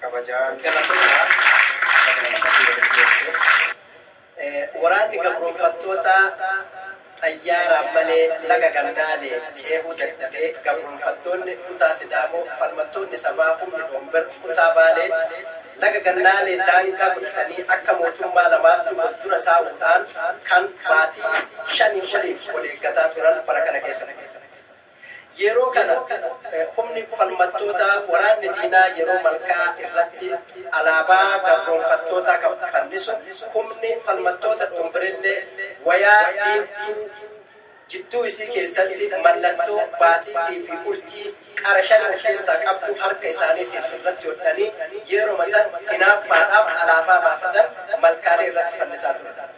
kabajaan Waraanni gabroomfattootaa xayyaaraan malee laga Gannaale ceehuu dadhabee gabroomfattoonni kutaa Sidaamoo falmattoonni sabaa humni Doombir kutaa Baalee laga Gannaalee daangaa godhatanii akka mootummaa lamaatti wal dura taa'uudhaan kan baatii shanii oliif wal eeggataa turan bara kana keessa ture. Yeroo kana humni falmattootaa waraanni diinaa yeroo malkaa irratti alaabaa gabroomfattootaa kan fannisu, humni falmattoota Dhoombirillee wayaa diimtuu jidduu isii keessatti mallattoo baatiitii fi urjii qara shan of keessaa qabdu harka isaaniitiin irratti hodhanii yeroma san hinaaffaadhaaf alaabaa baafatan malkaalee irratti fannisaa turan.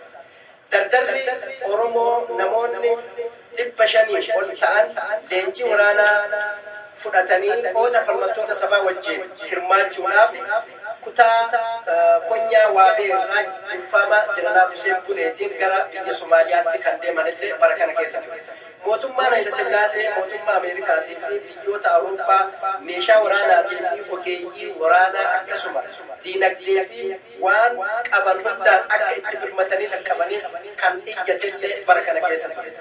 Dardarri Oromoo namoonni 500 ol ta'an leenjii waraanaa fudhatanii qooda falmattoota sabaa wajjiin hirmaachuudhaaf kutaa konyaa Waabee irraa durfaama Jeneraal Huseen Buneetiin gara biyya Somaaliyaatti kan deeman illee bara kana keessa ture. Mootummaan Hayilasillaasee mootummaa Ameerikaatii fi biyyoota Awurooppaa meeshaa waraanaatii fi ogeeyyii waraanaa akkasuma diinagdee fi waan qaban hundaan akka itti birmatanii dhaqqabaniif kan iyyatellee bara kana keessa ture.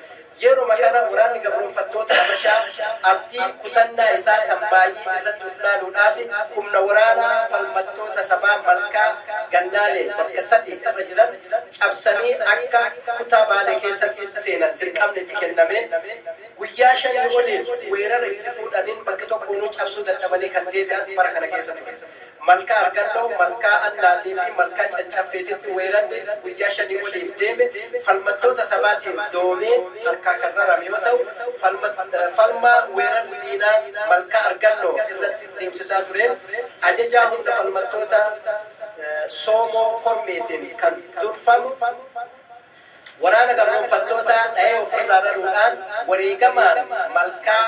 Yeruma kana waraanni gabroomfattoota Habashaa abdii kutannaa isaa tan Maayyii irratti uf laaluudhaaf humna waraanaa falmattoota sabaa Malkaa Gannaalee bakka sadii irra jiran cabsanii akka kutaa Baalee keessatti seenan dirqamni itti kennamee guyyaa shanii oliif weerara itti fuudhaniin bakka tokkoonuu cabsuu dadhabanii kan deebi'an bara kana keessa ture. Malkaa Argannoo, Malkaa Annaatii fi Malkaa Cancaffeetitti weerarri guyyaa shanii oliif deeme falmattoota sabaatiin doomee harkaa kan rarame yoo ta'u, falmaa weerarri diinaa Malkaa Argannoo irratti deemsisaa tureen ajajaa humna falmattoota Soomoo Kormeetiin kan durfamu, Waraana gabroomfattootaa dhahee ofirraa raruudhaan wareegamaan malkaa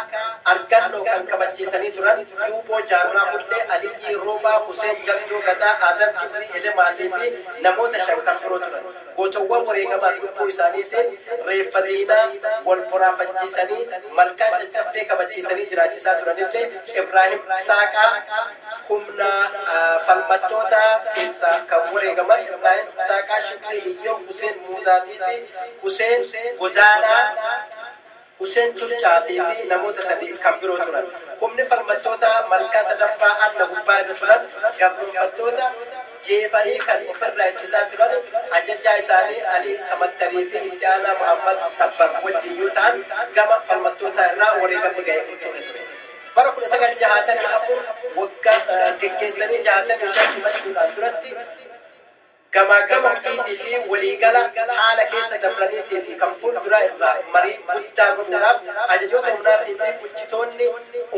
Argalloo kan kabachiisanii turan Yuuboo Jaarraa Hullee, Aliyyii Roobaa, Huseen Jaltoo Gadaa, Aadam Jibrii Elemaatii fi namoota shan kan biroo turan. Gootowwan wareegamaan lubbuu isaaniitiin reeffa diinaa wal boraafachiisanii malkaa Caccaffee kabachiisanii jiraachisaa turanillee Ibraahim Saaqaa, humna falmattootaa keessaa kan wareegaman Ibraahim Isaaqaa, Shukrii Iyyoob, Huseen Muudaatii fi Huseen Godaanaa, Huseen Turcaatii fi namoota sadii kan biroo turan. Humni falmattootaa malkaa 3ffaa Anna gubbaa irra turan gabroomfattoota jeefanii kan of irraa ittisaa turan ajajaa isaanii Alii Samattarii fi itti aanaa Muhammad Tabbar wajjin yoo ta'an gama falmattootaa irraa wareegamni ga'e hin turre ture. Bara 1964 wagga geggeessanii 65 simachuudhaan duratti gamaaggama hojiitii fi waliigala haala keessa dabraniitii fi kan fuulduraa irraa marii guddaa godhuudhaaf ajajoota humnaatii fi bulchitoonni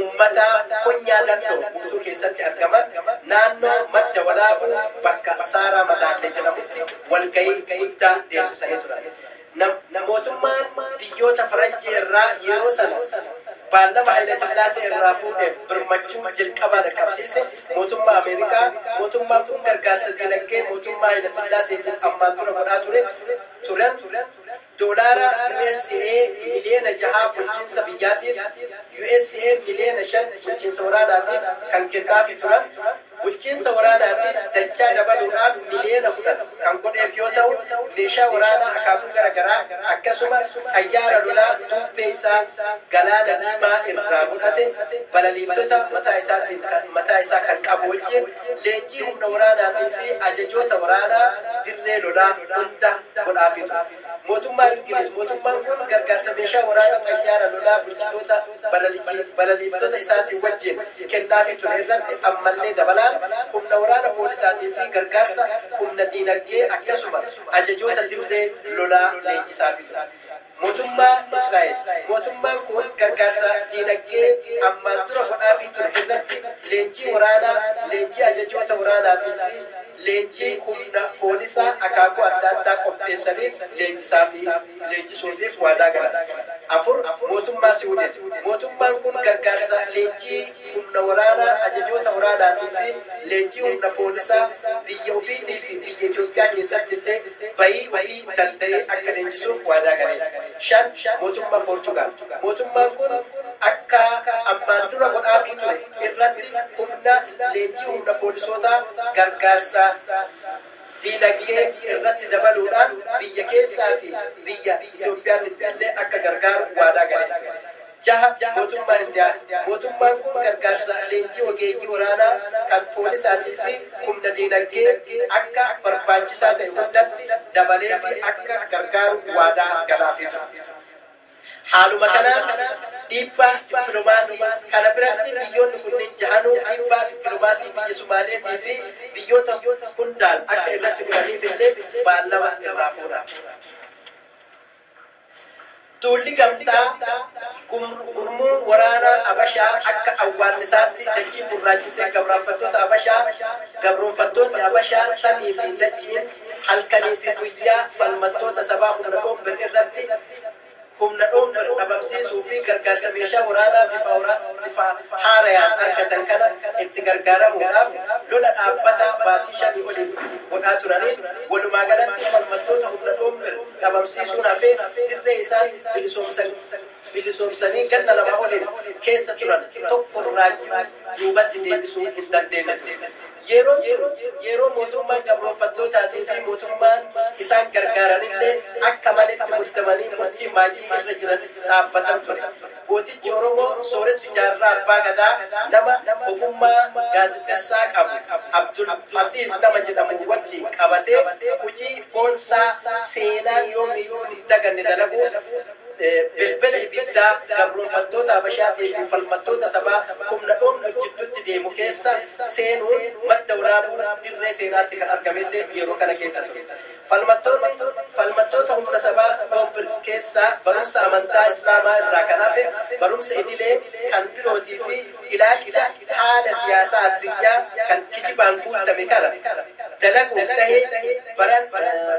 ummataa konyaa Dandoo guutuu keessatti argaman naannoo Madda Walaabuu bakka Saaraa Madaallee jedhamutti walgahii guddaa deemsisanii turan. Nam mootummaan biyyoota Faranjii irraa yeroo sana baallama Hayilasillaasee irraa fuudheef birmachuu jalqabaa dhaqqabsiise mootummaa Ameerikaa, mootummaan kun gargaarsa diinagdee mootummaa Hayilasillaaseetiif ammaan dura godhaa ture turen doolaara usa miliyoona jahaa bulchiinsa biyyaatiif, usa miliyoona shan bulchiinsa waraanaatiif kan kennaafi turan. bulchiinsa waraanaatiif dachaa dabaluudhaan miliyoona 10 kan godheef yoo ta'u, meeshaa waraanaa akaakuu gara garaa akkasuma xayyaara lolaa duubbee isaa Galaana Diimaa irraa godhate balaliiftota mataa isaatiin kan mataa isaa kan qabu wajjin leenjii humna waraanaatii fi ajajoota waraanaa dirree lolaa hunda godhaafii ture. Mootummaa Ingiliiz, Mootummaan kun gargaarsa meeshaa waraana xayyaara lolaa bulchitoota. balalichi balaliiftota isaatii wajjin kennaafii ture irratti ammallee dabalaan humna waraana poolisaatii fi gargaarsa humna diinagdee akkasuma ajajoota dirree lolaa leenjisaafii ture. Mootummaa Israa'el, Mootummaan kun gargaarsa diinagdee ammaan dura godhaafii ture irratti leenjii waraanaa, leenjii ajajoota waraanaatii fi leenjii humna poolisaa akaakuu adda addaa qopheessanii leenjisaafii. leenjisuufiif waadaa galan. 4, Mootummaa Siwidin. Mootummaan kun gargaarsa leenjii humna waraanaa, ajajoota waraanaatii fi leenjii humna poolisaa biyya ofiitii fi biyya Itoophiyaa keessatti illee bayii ofii danda'ee akka leenjisuuf waadaa gale. 5, Mootummaa Poorchugaal. Mootummaan kun akka ammaan dura godhaafii ture irratti humna leenjii humna poolisootaa gargaarsa. diinagdee irratti dabaluudhaan biyya keessaa fi biyya Itoophiyaatiin illee akka gargaaru waadaa galee ture. 6 Mootummaa Indiyaa Mootummaan kun gargaarsa leenjii ogeeyyii waraanaa, kan poolisaatii fi humna diinagdee akka barbaachisaa ta'e hundatti dabaleefii akka gargaaru waadaa galaafii ture. Haaluma kanaan dhiibbaa dippilomaasii kana biratti biyyoonni kunniin jahanuu dhiibbaa dippilomaasii biyya Sumaaleetii fi biyyoota hundaan akka irratti godhaniif illee baallama irraa fuudhan. Duulli gamtaa gurmuu waraanaa Abashaa akka awwaannisaatti dachii gurraachise gabroonfattoota Abashaa, gabroonfattoonni Abashaa samii fi dachiin halkanii fi guyyaa falmattoota sabaa humna Onbr irratti humna Onbr dhabamsiisuu fi gargaarsa meeshaa waraanaa bifa haarayaan argatan kana itti gargaaramuudhaaf lola dhaabbataa baatii shanii oliif godhaa turaniin walumaa galatti falmattoota humna Onbr dhabamsiisuun hafee dirree isaan bilisoomsanii ganna lamaa oliif keessa turan tokko irraayyuu duubatti deebisuu hin dandeenye ture. Yeroon tun yeroo mootummaan gabroomfattootaatii fi mootummaan isaan gargaaranillee akka malee itti muddamanii murtii maayyii irra jiran dhaabbatan ture. Gootichi Oromoo sooressi Jaarraa Abbaa Gadaa nama ogummaa gaazexessaa qabu Abdul Hafiiz nama jedhamu wajjiin qabatee hujii boonsaa seenaan yoomiyyuu hin daganne dalaguuf, Bilbila ibiddaa gabroomfattoota Habashaatii fi falmattoota sabaa humna dhoofnuuf jidduutti deemu keessa seenuun madda walaabuu dirree seenaatti kan argame illee yeroo kana keessa ture. Falmattoonni falmattoota humna sabaa dhoofbn keessaa barumsa amantaa Islaamaa irraa kan hafe barumsa idilee kan birootii fi ilaalcha haala siyaasaa addunyaa kan kijibaan guuttame kana dalaguuf tahee baran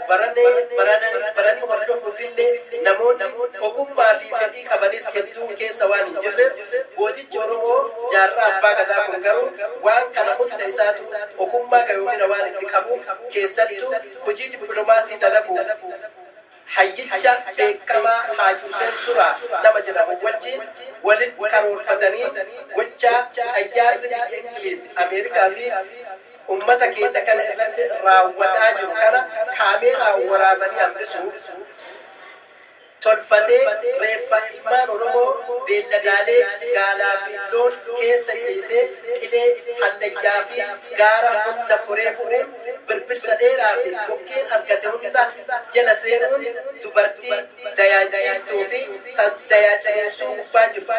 baranee barananii baranii hordofuuf illee namoonni ogummaa fi fedhii qabanis hedduu keessa waan hin jirreef gootichi Oromoo Jaarraa Abbaa Gadaa kun garuu waan kana hunda isaatu ogummaa gayoomina waan itti qabuuf keessattuu hojii dippilomaasii dalaguuf Hayyicha beekamaa Haaj Huseen Suraa nama jedhamu wajjiin walin karoorfatanii gochaa xayyaarri biyya Ingiliiz, Ameerikaa fi ummata keenya kana irratti raawwataa jiru kana kaameeraan waraabanii hambisuuf tolfatee reeffa ilmaan Oromoo beelladaalee gaalaa fi loon keessa ciisee qilee, hallayyaa fi gaara hunda koree bu'uun birbirsa dheeraa fi kokkeen argate hunda jala seenuun dubartii dayaa ciiftuu fi tan dayaa ciniinsuu gubbaa jirtu,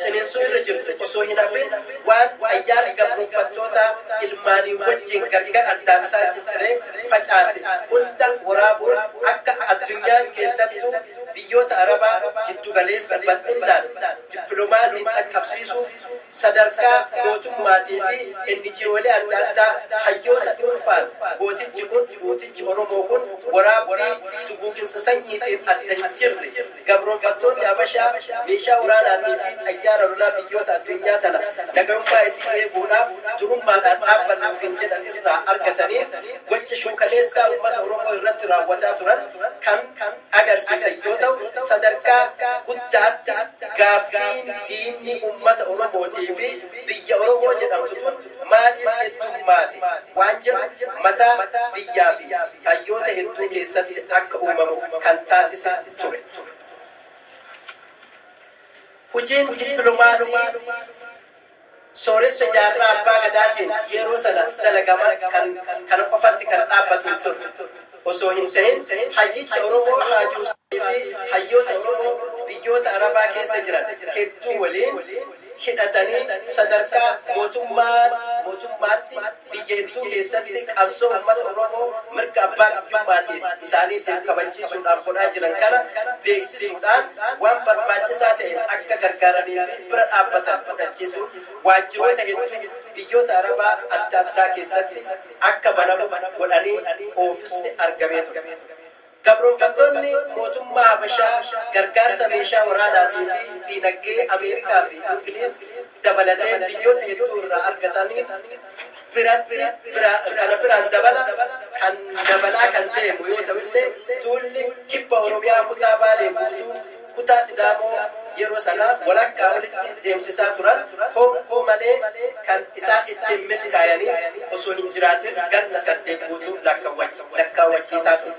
ciniinsuu irra jirtu, osoo hin hafin waan xayyaarri gabroomfattootaa ilmaanii wajjiin gargar addaan isaan cicciree facaase hunda woraabuun akka addunyaan keessattuu biyyoota Arabaa jiddu galeessa bal'innaan dippilomaasiin dhaqqabsiisuuf sadarkaa mootummaatii fi NGOlee adda addaa hayyoota dhuunfaan gootichi kun, duutichi Oromoo kun waraabbii duguuginsa sanyiitiif adda hin jirre gabroomfattoonni Habashaa meeshaa waraanaatii fi xayyaara lolaa biyyoota addunyaa tana nagayummaa isii eeguudhaaf durummaadhaan dhaabbanna ofiin jedhan irraa argataniin gocha shuukaleessaa ummata Oromoo irratti raawwataa turan kan agarsiisan yoo ta'u, sadarkaa guddaatti gaaffiin diinni ummata Oromootii fi biyya Oromoo jedhamtu tun maaliif heddummaate waan jedhu mataa biyyaa fi hayyoota hedduu keessatti akka uumamu kan taasise ture. Hujiin dippilomaasii. Sooressa Jaarraa Abbaa Gadaatiin yeroo sana dalagama kan kana qofatti kan dhaabbatu hin turre osoo hin tahin hayyicha Oromoo Haaji Huseenii fi hayyoota Oromoo biyyoota Arabaa keessa jiran hedduu waliin hidhatanii sadarkaa mootummaa mootummaatti Iyyentuu keessatti qabsoo ummata Oromoo mirga abbaa biyyummaatiin isaaniitiif kabachiisuudhaaf godhaa jiran kana beeksisuudhaan waan barbaachisaa ta'een akka gargaaranii fi bira dhaabbatan fudhachiisuun waajjiroota hedduu biyyoota Arabaa adda addaa keessatti akka banamu godhanii oofisni argamee ture. Gabroomfattoonni mootummaa Habashaa gargaarsa meeshaa waraanaatii fi diinagdee Ameerikaa fi Ingiliiz dabalatee biyyoota hedduu irraa argataniin biratti bira kana biraan dabala kan dabalaa kan deemu yoo ta'u illee duulli Kibba Oromiyaa kutaa Baalee guutuu kutaa Sidaamoo yeroo sana walakkaa olitti deemsisaa turan honkuu malee kan isaan ittiin milkaayanii osoo hin jiraatin ganna saddeet guutuu lakkaawwachiisaa ture.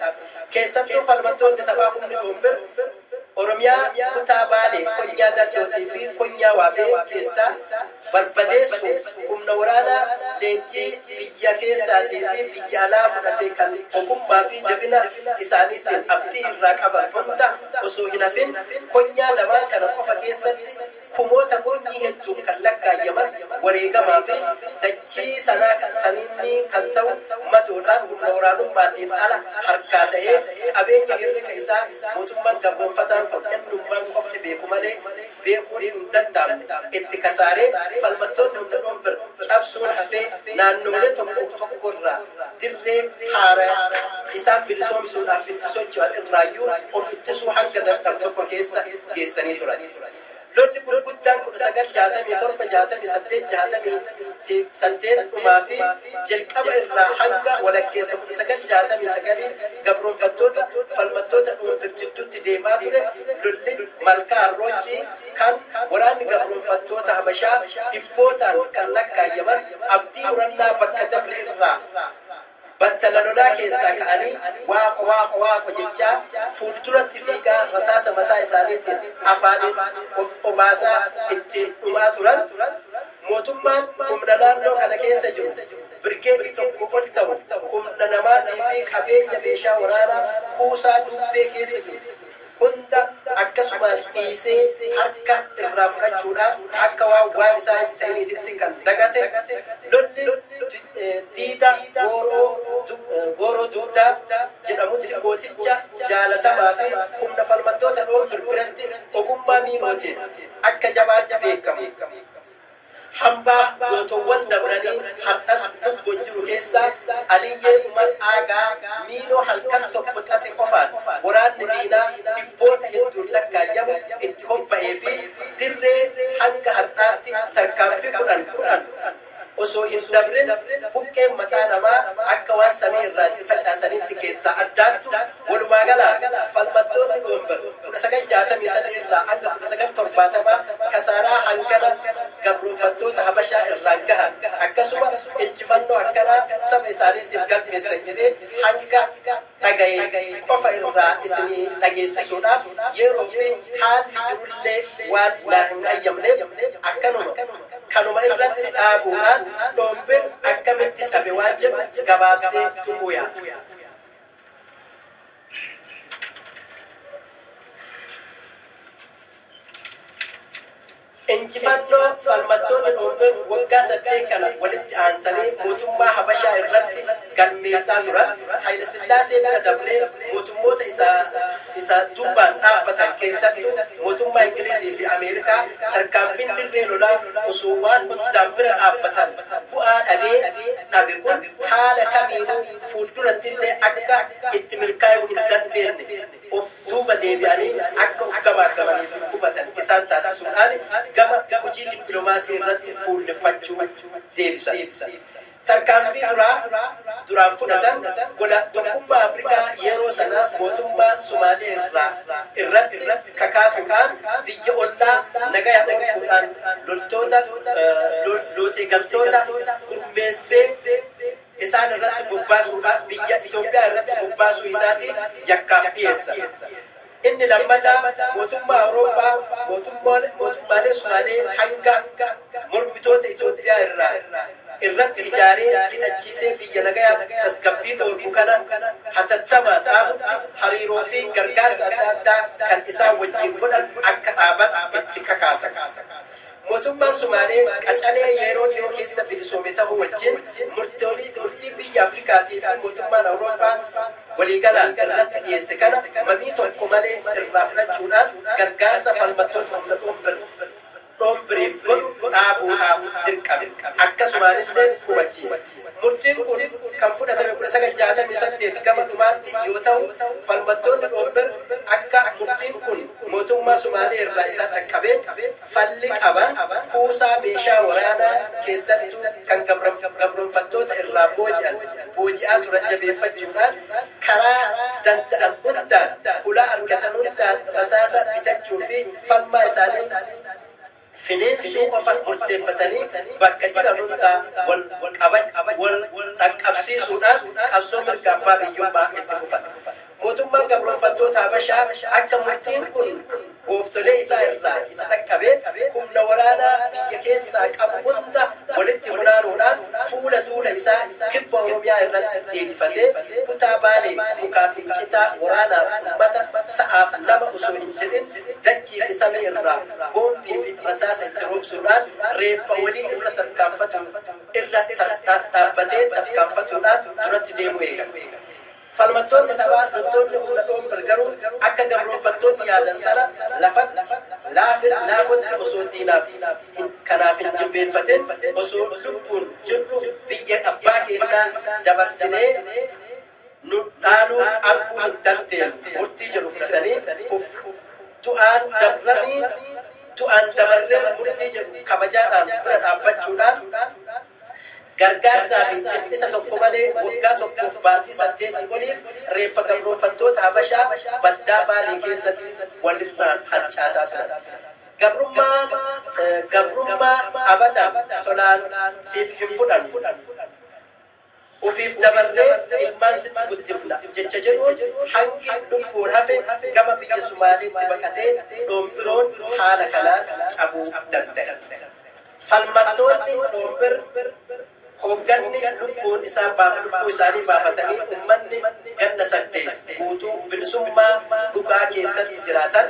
Keessattuu falmattoonni sabaa humni Ombir Oromiyaa kutaa Baalee konyaa Dallootii fi konyaa Waabee keessaa barbadeessuuf humna waraanaa leenjii biyya keessaatii fi biyya alaa fudhate kan ogummaa fi jabina isaaniitiin abdii irraa qaban hunda osoo hin hafin konyaa lamaan kana qofa keessatti kumoota kurnyii hedduun kan lakkaayyaman wareegamaa fi dachii sanaa kan saniinnii kan ta'u matoodhaan humna waraanummaatiin ala harkaa ta'ee qabeenya hirrika isaa mootummaan gabroomfataan kun innummaan qofti beeku malee beekuun hin danda'amne itti kasaaree falmattoonni hunda dhunbir cabsuun hafee naannoolee tokko tokko irraa dirree haaraya isaan bilisoomsuudhaaf itti socho'an irraayyuu of ittisuu hanga dadhabu tokko keessa geessanii turan. Lolli gurguddaan 1967, 68, 8 dhumaa fi jalqaba irraa hanga walakkeessa 1969n gabroomfattoota, falmattoota dhuunfir jidduutti deemaa ture lolli Malkaa Arrooncii kan waraanni gabroomfattoota Habashaa dhibbootaan kan lakkaayyaman abdii murannaa bakka dabre irraa battala lolaa keessaa ka'anii Waaqo Waaqo Waaqo jechaa fuulduratti fiigaa rasaasa mataa isaaniitiin afaaniin of obaasaa ittiin dhumaa turan Mootummaan humna naannoo kana keessa jiru birgeedii tokkoo ol tahu humna namaatii fi qabeenya meeshaa waraanaa kuusaa Duubbee keessa jiru hunda akkasumaan dhiisee harka irraa fudhachuudhaan akka waan waan isaa hin tahiniititti kan dagate lolli diida gooroo dugdaa jedhamutti gooticha jaalatamaa fi humna falmattoota Dhoombir biratti ogummaa miimootiin akka jabaatti beekamu. Hambaa gootowwan dabranii hardhas wbo jiru keessaa Aliyyee Umar Aagaa Miiloo halkan tokko xaxe qofaan waraanni diinaa dhibboota hedduun lakkaayyamu itti hobba'ee fi dirree hanga hardhaatti tarkaanfii kudhan kudhan osoo hin dabrin buqqeen mataa namaa akka waan samii irraa itti facaasaniitti keessaa addaattu Walumaagalaan, falmattoonni Noovember 1963 irraa hanga 1970 kasaaraa hangana gabroomfattoota Habashaa irraan gahan, akkasuma injifannoo akkanaa saba isaaniitiif galmeessan jedhee hanga dhagaye qofa irraa isinii dhageessisuudhaaf yeeroo fi haalli jiru illee waan naa hin hayyamneef akkanuma kanuma irratti dhaabuudhaan Noovember akkamitti cabe waan jedhu gabaabsee tuquu yaala. Injifannoo falmattoonni Oromoo waggaa saddeet kana walitti aansanii mootummaa Habashaa irratti galmeessaa turan Hayilasillaasee bira dabree mootummoota isa isa duubaan dhaabbatan keessattuu mootummaa Ingilizii fi Ameerikaa tarkaanfiin dirree lolaa osoo waan Potsdaam bira dhaabbatan bu'aa dhabee dhabe kun haala kamiinuu fuuldurattillee akka itti milkaayuu hin dandeenne of duuba deebi'anii akka of gamaaggamanii fi hubatan isaan taasisuudhaan gama hojii dippilomaasii irratti fuulleffachuu deebisan. Tarkaanfii duraa duraan fudhatan gola Tokkummaa Afrikaa yeroo sanaa mootummaa Somaalee irraa irratti kakaasuudhaan biyya ollaa nagaya dhorkuudhaan loltoota lootee galtoota gurmeessee isaan irratti bobbaasuudhaaf biyya Itoophiyaa irratti bobbaasuu isaatiin yakkaaf dhiyeessa. Inni lammataa mootummaa Awurooppaa mootummaalee Sumaalee hanga mormitoota Itoophiyaa irraa irratti ijaaree hidhachiisee biyya nagayaa fi tasgabbii dhoorgu kana hatattamaan dhaabutti hariiroo fi gargaarsa adda addaa kan isaan wajjiin godhan akka dhaaban itti kakaasa. Mootummaan Sumaalee qacalee yeroo dhiyoo keessa bilisoome tahuu wajjin murtii biyyi Afrikaatii fi mootummaan Awurooppaa waliigalaan irratti dhiyeesse kana mamii tokko malee irraa fudhachuudhaan gargaarsa falmattoota humna dhoombiriif godhu dhaabuudhaaf dirqame. Akkasumaanillee hubachiise. Murtiin kun kan fudhatame 1968 gama dhumaatti yoo tahu falmattoonni dhoombir akka murtiin kun mootummaa Sumaalee irraa isaan dhaqqabee, falli qaban kuusaa meeshaa waraanaa keessattuu kan gabroomfattoota irraa booji'an booji'aa turan jabeeffachuudhaan karaa danda'an hundaan hulaa argatan hundaan rasaasa bitachuu fi falmaa isaanii finiinsuu qofa murteeffatanii bakka jiran hundaa wal qabac wal dhaqqabsiisuudhaan qabsoo mirga abbaa biyyummaa itti fufan. Mootummaan gabroomfattoota Habashaa akka murtiin kun gooftolee isaa irraa isa dhaqqabeen humna waraanaa biyya keessaa qabu hunda walitti funaanuudhaan fuula duula isaa kibba Oromiyaa irratti deebifatee kutaa Baalee mukaa fi citaa waraanaaf ummata sa'aaf lama osoo hin jedhin dachii fi samii irraa boombii fi rasaasa itti roobsuudhaan reeffa walii irra tarkaanfatuun irra dhaabbatee tarkaanfatuudhaan duratti deemuu eegale. Falmattoonni sabaa loltoonni humna Toomper garuu akka gabroomfattoonni yaadan sana lafatti, laafe, laafotti osoo diinaaf hin, kanaaf hin jilbeenfatin osoo lubbuun jirru biyya abbaa keennaa dabarsinee nu dhaaluu arguu hin dandeennu murtii jedhu fudhatanii kuf, du'aan dabranii du'aan dabarree murtii jedhu kabajaadhaan bira dhaabbachuudhaan Gargaarsaa fi jiphisa tokko malee waggaa tokkoof baatii saddeetii oliif reeffa gabroomfattoota Habashaa baddaa Baalee keessatti walirraan harcaasaa turan. Gabrummaa gabrummaa abadan tolaan siif hin fudhannu. Ofiif dabarree ilmaan sitti guddifna jecha jedhuun hangi lubbuun hafe gama biyya Sumaaleetti baqatee Dhombiroon haala kanaan cabuu dandahe. Falmattoonni Dhombir hoogganni lubbuun isaan baaf lubbuu isaanii baafatanii ummanni ganna 8 guutuu bilisummaa dhugaa keessatti jiraatan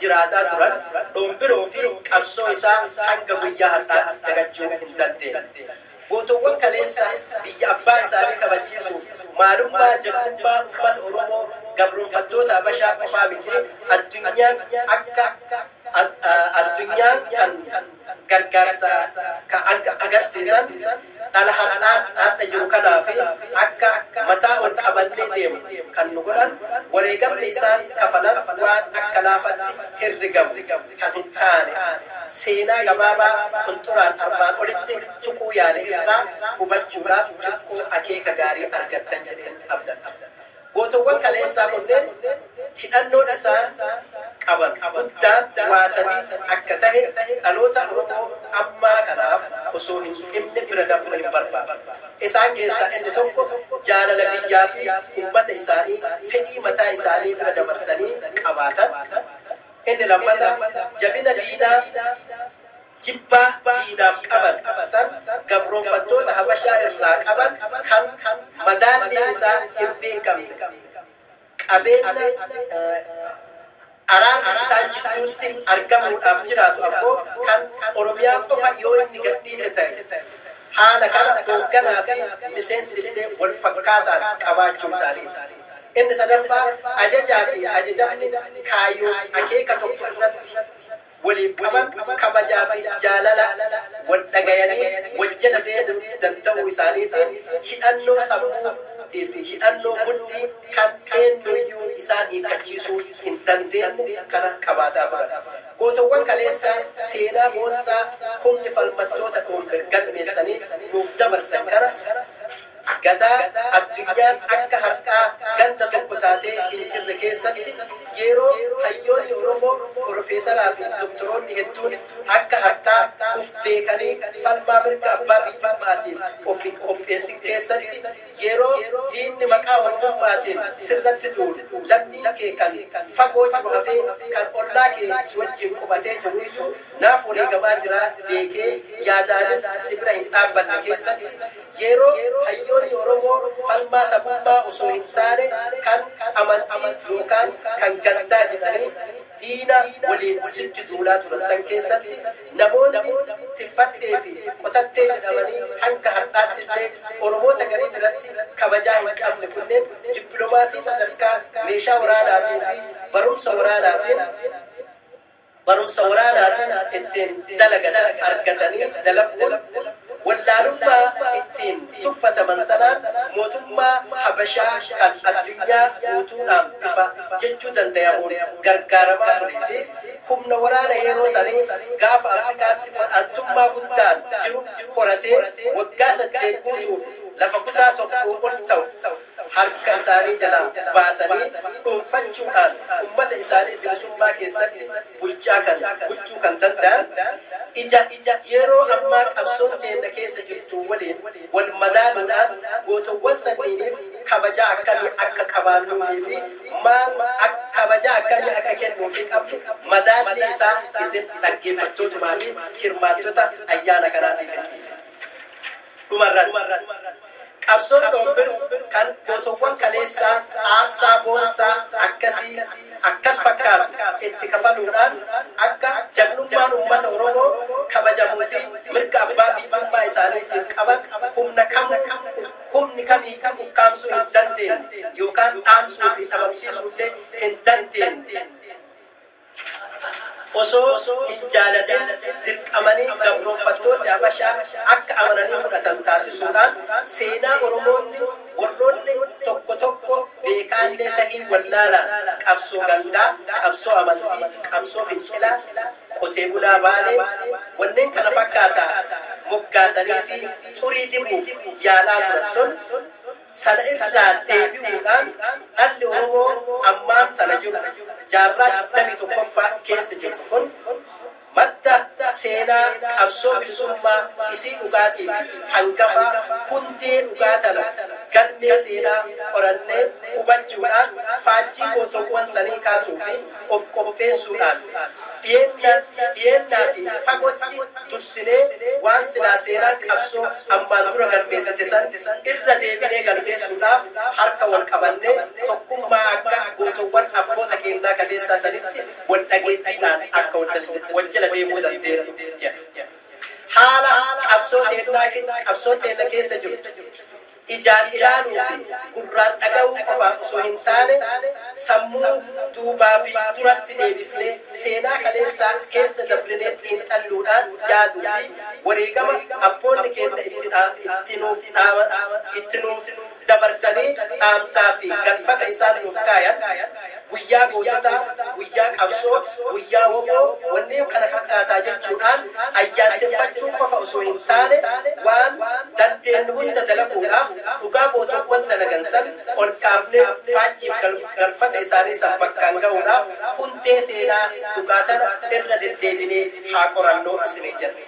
jiraataa turan Dhombiroo fi qabsoo isaa hanga guyyaa har'aatti dagachuu hin dandeenye. Gootowwan kaleessa biyya abbaa isaanii kabachiisuuf maalummaa, jabbummaa ummata Oromoo gabroomfattoota Habashaa qofaa miti addunyaan akka addunyaan kan gargaarsa ka agarsiisan dhala har'aa har'a jiru kanaa fi akka mataa ol qabannee deemu kan nu godhan wareegamni isaan kafalan waan akka laafatti herregamu. kan hin taane seenaa gabaabaa qunxuraan armaan olitti tuquu yaale irraa hubachuudhaaf xiqqoo akeeka gaarii argattan jedheen abdadha. Gootowwan kaleessaa kunneen hidhannoon isaan qaban guddaan waa sadii akka tahe dhaloota Oromoo ammaa kanaaf osoo hin himne bira dabruu hin barbaadu. Isaan keessaa inni tokko jaalala biyyaa fi ummata isaanii fedhii mataa isaanii bira dabarsanii qabaatan, Inni lammata jabina diinaa jibbaa diinaaf qaban san gabroomfattoota Habashaa irraa qaban kan madaalliin isaa hin beekamne qabeenna araarri isaan jidduutti argamuudhaaf jiraatu ammoo kan Oromiyaa qofa yoo inni gadhiise ta'e haala kana hoogganaa fi miseensillee wal fakkaataan qabaachuu isaaniiti. Inni sadaffaa, ajajaa fi ajajamni kaayyoo fi akeeka tokko irratti waliif qaban kabajaa fi jaalala wal dhagayanii wal jala deemuu danda'uu isaaniitiin hidhannoo sammuu tii fi hidhannoo mudhii kan eennu iyyuu isaan hiikkachiisuu hin dandeenye kana qabaataa turan. Gootowwan kaleessaa seenaa boonsaa humni falmattoota Dhoombir galmeessanii nuuf dabarsan kana, Gadaa addunyaan akka hardhaa ganda tokko taatee hin jirre keessatti yeroo hayyoonni Oromoo Porofeesaraa fi Doktoroonni hedduun akka hardhaa uf beekanii falmaa mirga abbaa biyyummaatiin of hin qopheessin keessatti yeroo diinni maqaa Oromummaatiin sirratti duulu lammiin kee kan fagoo jiru hafee kan ollaa kee si wajjiin qubatee jiruuyyu naaf wareegamaa jira beekee yaadaanis si bira hin dhaabbanne keessatti Yeroo hayyoonni Oromoo falmaa sabummaa osoo hin taane kan amantii yookaan kan gandaa jedhanii diina waliin sitti duulaa turan san keessatti namoonni Tiffattee fi Qotattee jedhamanii hanga hardhaatti illee Oromoota garii biratti kabajaa hin qabne kunneen dippilomaasii sadarkaa meeshaa waraanaatii fi barumsa waraanaatiin Barumsa waraanaatiin ittiin dalagatan argatanii dalaguun wallaalummaa ittiin tuffataman sanaan mootummaa Habashaa kan addunyaa guutuudhaan bifa jechuu dandayamuun gargaaramaa turee fi humna waraana yeroo sanii Gaafa Afrikaatti ol'aantummaa guddaan jiru horatee waggaa saddeet guutuuf lafa kutaa tokkoo ol ta'u harka isaanii jalaa baasanii dhuunfachuudhaan ummata isaanii bilisummaa keessatti bulchaa kan bulchuu kan danda'an ija yeroo ammaa qabsoon teenna keessa jirtuu waliin wal madaaluudhaan gootowwan sanniiniif kabajaa akkamii akka qabaannuufii fi maal akka kabajaa akkamii akka kennuufii qabnu madaallii isaa isin dhaggeeffattootumaa fi hirmaattota ayyaana kanaatiifin dhiisa. Dhuma irratti, qabsoon Doombir kan gootowwan kaleessaa aarsaa boonsaa akkasii akkas fakkaatu itti kafaluudhaan akka jagnummaan uummata Oromoo kabajamuu fi mirga abbaa biyyummaa isaaniitiif qaban humna kamuu humni kamiiyyuu ukkaamsuu hin dandeenye yookaan dhaamsuu fi dhabamsiisuu illee hin dandeenye. Osoo hin jaalatin dirqamanii gabroomfattoonni Habashaa akka amananii fudhatan taasisuudhaan seenaa Oromoonni warroonni tokko tokko beekaallee tahii wallaalaan qabsoo gandaa, qabsoo amantii, qabsoo fincilaa, qotee bulaa Baalee, wanneen kana fakkaataa moggaasaniifii xurii dibuuf yaalaa turan sun, Sana irraa deebi'uudhaan dhalli Oromoo ammaan tana jiru, jaarraa 21ffaa keessa jirru kun madda seenaa qabsoo bilisummaa isii dhugaatii fi hangafaa, hundee dhugaa tana galmee seenaa qorannee hubachuudhaan faajjii gootowwan sanii kaasuu fi of qopheessuudhaan dhiyeenna dhiyeennaa fi fagotti dursinee waan silaa seenaan qabsoo ammaan dura galmeessite san irra deebinee galmeessuudhaaf harka wal qabannee tokkummaa akka gootowwan abboota keennaa kaleessaa sanitti wal dhageettiidhaan akka wal jala deemuu dandeennu jedha. Haala qabsoo teennaa qabsoon teenna keessa jirtu. Ijaan ilaaluu fi gurraan dhaga'uu qofaan osoo hin taane, sammuu duubaa fi duratti deebifnee, seenaa kaleessaa keessa dabrinee xiinxalluudhaan yaaduu fi wareegama abboonni keenna itti itti nuuf dhaaman, itti nuuf dabarsanii dhaamsaa fi galfata isaan nuuf kaayan, guyyaa goototaa, guyyaa qabsoo, guyyaa wbo, wanneen kana fakkaataa jechuudhaan ayyaanteffachuu qofa osoo hin taane waan dandeennu hunda dalaguudhaaf dhugaa gootowwan dalagan san ol kaafnee faajjiif galfata isaanii san bakkaan gahuudhaaf hundee seenaa dhugaa tana irra deddeebinee haa qorannu isiniin jenna.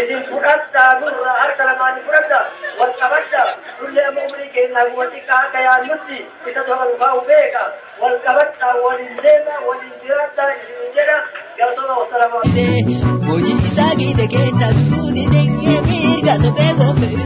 Isin fudhadhaa nurraa harka lamaan fudhadhaa wal qabadhaa nullee amma umurii keenya haguma xiqqaa akka yaannutti isatu haga nu kaa'u beeka wal qabadhaa waliin deemaa waliin jiraadhaa isin jedha galatooma wassalamu Hojii isaa giite keessa turuu didee mirga sobee gombee.